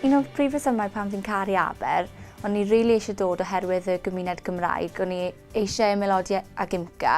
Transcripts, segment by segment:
Un o'r prif resymau pam fi'n caru Aber, o'n i rili eisiau dod oherwydd y gymuned Gymraeg, o'n i eisiau ymaelodi ag IMCA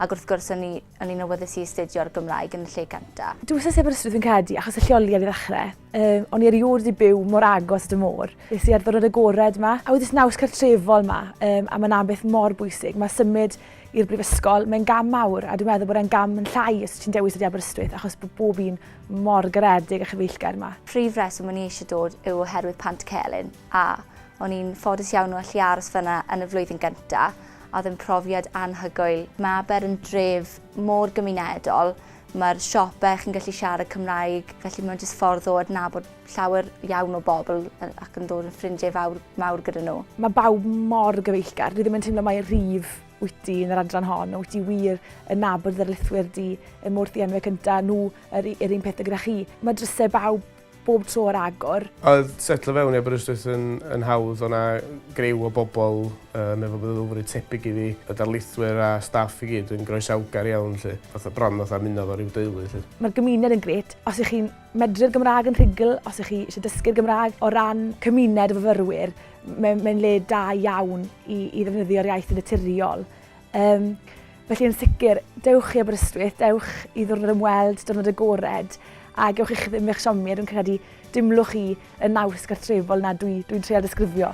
ac wrth gwrs o'n i o'n i'n awyddus i astudio'r Gymraeg yn y lle cynta. Dwi wastad wedi bod yn stryd fi'n credu, achos y lleoliad i ddechrau. Um, o'n i erioed wedi byw mor agos at y môr. Nes i ar ddwrnod agored yma, a wedi naws cartrefol yma, um, a mae'n ambell mor bwysig. Mae symud i'r brifysgol, mae'n gam mawr, a dwi'n meddwl bod e'n gam yn llai os ti'n dewis ydi Aberystwyth, achos bod bob un Mor garedig a chyfeillgar ma. Prif reswm o'n i eisiau dod yw oherwydd Pant Celyn, a, o'n i'n ffodus iawn o allu aros fan'na yn y flwyddyn gynta', a oedd yn profiad anhygoel. Mae Aber yn dref mor gymunedol, mae'r siope chi'n gallu siarad Cymraeg, felly mae'n jyst ffordd o adnabod llawer iawn o bobl ac yn dod yn ffrindiau fawr mawr gyda nhw. Mae bawb mor gyfeillgar, dwi ddim yn teimlo mai rhif Wyt ti, yn yr adran hon, wyt ti wir yn nabod ddarlithwyr di, y mor ddienwe cynta, nhw yr, yr un pethau gyda chi. Mae drysau bawb bob tro ar agor. Oedd setlo fewn i Aberystwyth yn, yn hawdd, o'na grew o bobl um, efo meddylfryd tebyg i fi, y darlithwyr a staff i gyd yn groesawgar iawn, lle, fatha bron fatha muno fo rhyw deulu. Lle. Mae'r gymuned yn gret. Os ych chi'n medru'r Gymraeg yn rhugl, os ych chi eisiau dysgu'r Gymraeg o ran cymuned o fyfyrwyr, Mae'n mae le da iawn i, i ddefnyddio'r iaith yn naturiol. Um, felly yn sicr, dewch i Aberystwyth, dewch i ddwrnod ymweld, dwrnod agored, a gewch eich ddim eich siomi, a dwi'n credu dimlwch i y naws gartrefol na dwi'n dwi, dwi treol disgrifio.